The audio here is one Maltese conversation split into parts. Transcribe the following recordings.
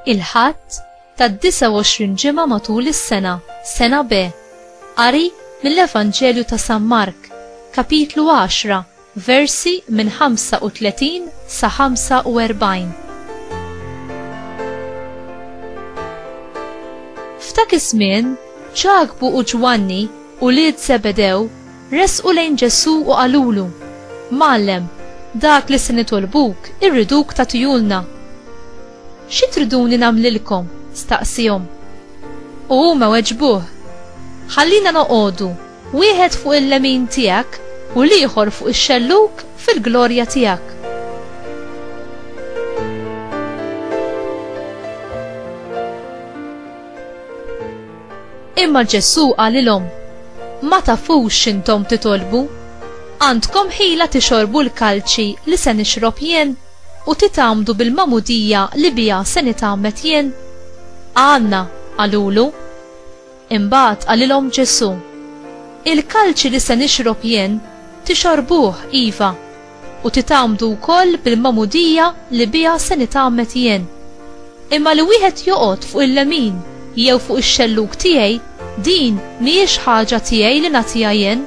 il-ħadd tad-29 ġimgħa matul is-sena, sena B. Qari mill-Evanġelju ta' San Mark, kapitlu 10, Versi minn 35 sa 45 F'dak iż-żmien, Ġakbu u Ġwanni, ulied Żebedew, resqu lejn Ġesù u qalulu, Mgħallem, dak li se nitolbuk irriduk tagħtihulna. Xi triduni nagħmlilkom? staqsiehom. U huma weġbuh, Ħallina noqogħdu, Wieħed fuq il-lemin tiegħek u l-ieħor fuq ix-xellug fil-glorja tiegħek. Imma Ġesù qalilhom, Ma tafux x'intom titolbu? Għandkom ħila tixorbu l-kalċi li se nixrob jien u titgħamdu bil-magħmudija li biha se nitgħammed jien? Għandna, qalulu. Imbagħad qalilhom Ġesù, Il-kalċi li se nixrob jien, tixorbuh, iva, u titgħammdu wkoll bil-magħmudija li biha se nitgħammed jien. Imma li wieħed joqgħod fuq il-lemin jew fuq ix-xellug tiegħi, din mhijiex ħaġa tiegħi li nagħtiha jien,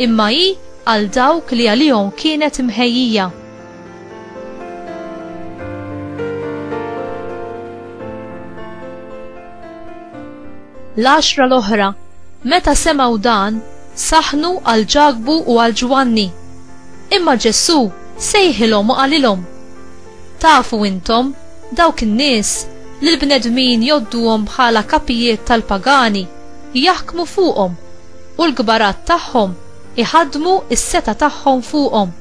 imma hi għal dawk li għalihom kienet imħejjija. L-għaxra l-oħra, meta semgħu dan, saħnu għal Ġakbu u għal Ġwanni. Imma Ġesù sejħilhom u qalilhom: Tafu intom dawk in-nies li l-bnedmin jodduhom bħala kapijiet tal-pagani jaħkmu fuqhom u l-kbarat tagħhom iħaddmu s-seta' tagħhom fuqhom.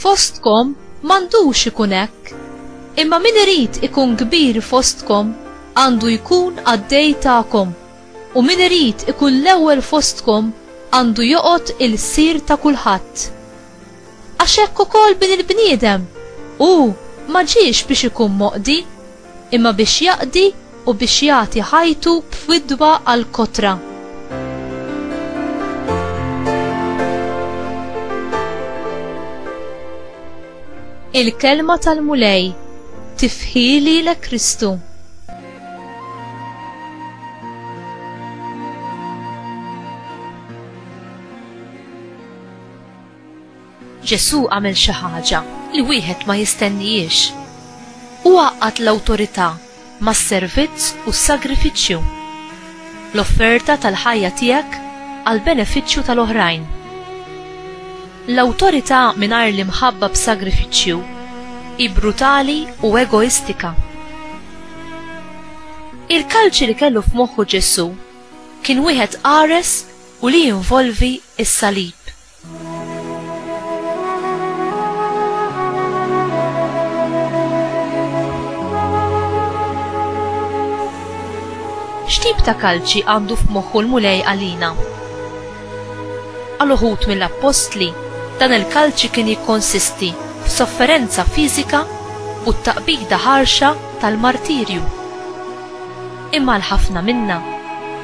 Fostkom m'għandux ikun hekk, imma min irid ikun kbir fostkom għandu jkun qaddej tagħkom, u min irid ikun l-ewwel fostkom għandu joqgħod ilsir ta' kulħadd. Għax hekk ukoll Bin il-bniedem hu ma ġiex biex ikun moqdi, imma biex jaqdi u biex jagħti ħajtu b'fidwa għall-kotra. Il-kelma tal-Mulej tifħili l Kristu. Ġesù għamel xi ħaġa li wieħed ma jistennihiex. Hu għaqqad l-awtorità mas-servizz u s-sagrifiċċju. L-offerta tal-ħajja tiegħek għall-benefiċċju tal-oħrajn. L-awtorità mingħajr l-imħabba b'sagrifiċċju hi brutali u egoistika. Il-kalċi li kellu f'moħħu Ġesù kien wieħed qares u li jinvolvi s-salib. X'tip ta' kalċi għandu f'moħħu l-Mulej għalina? Għal uħud mill-appostli, dan il-kalċi kien jikkonsisti f'sofferenza fiżika u t-taqbida ħarxa tal-martirju. imma għal ħafna minna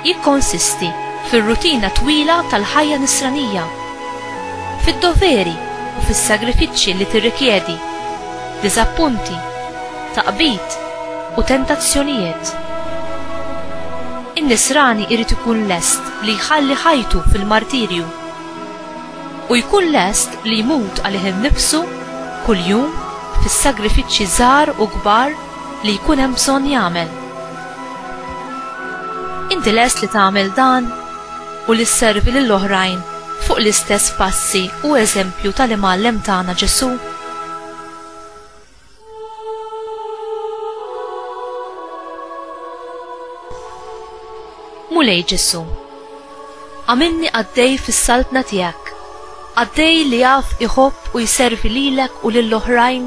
jikkonsisti fir-rutina twila tal-ħajja Nisranija, fid-doveri u fis-sagrifiċċji li tirrikjedi, diżappunti, taqbid u tentazzjonijiet. In-Nisrani jrid ikun lest li jħalli ħajtu fil-martirju u jkun lest li jmut għalih innifsu kuljum fis-sagrifiċċji żgħar u kbar li jkun hemm bżonn jagħmel. Inti lest li tagħmel dan u li sservi lil oħrajn fuq l-istess passi u eżempju tal-Imgħallem tagħna Ġesù? Mulej Ġesu. Għamilni għaddej fis-saltna tiegħek, għaddej li jaf iħobb u jservi lilek u lill-oħrajn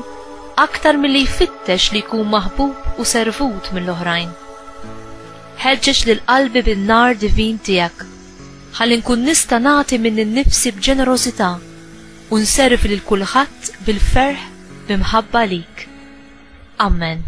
aktar milli jfittex li jkun maħbub u servut mill-oħrajn. Ħeġġeġ lil qalbi bin-nar divin tiegħek, ħalli nkun nista' nagħti minn innifsi b'ġenerożità u nservi lil kulħadd bil-ferħ bi mħabba lik. Amen.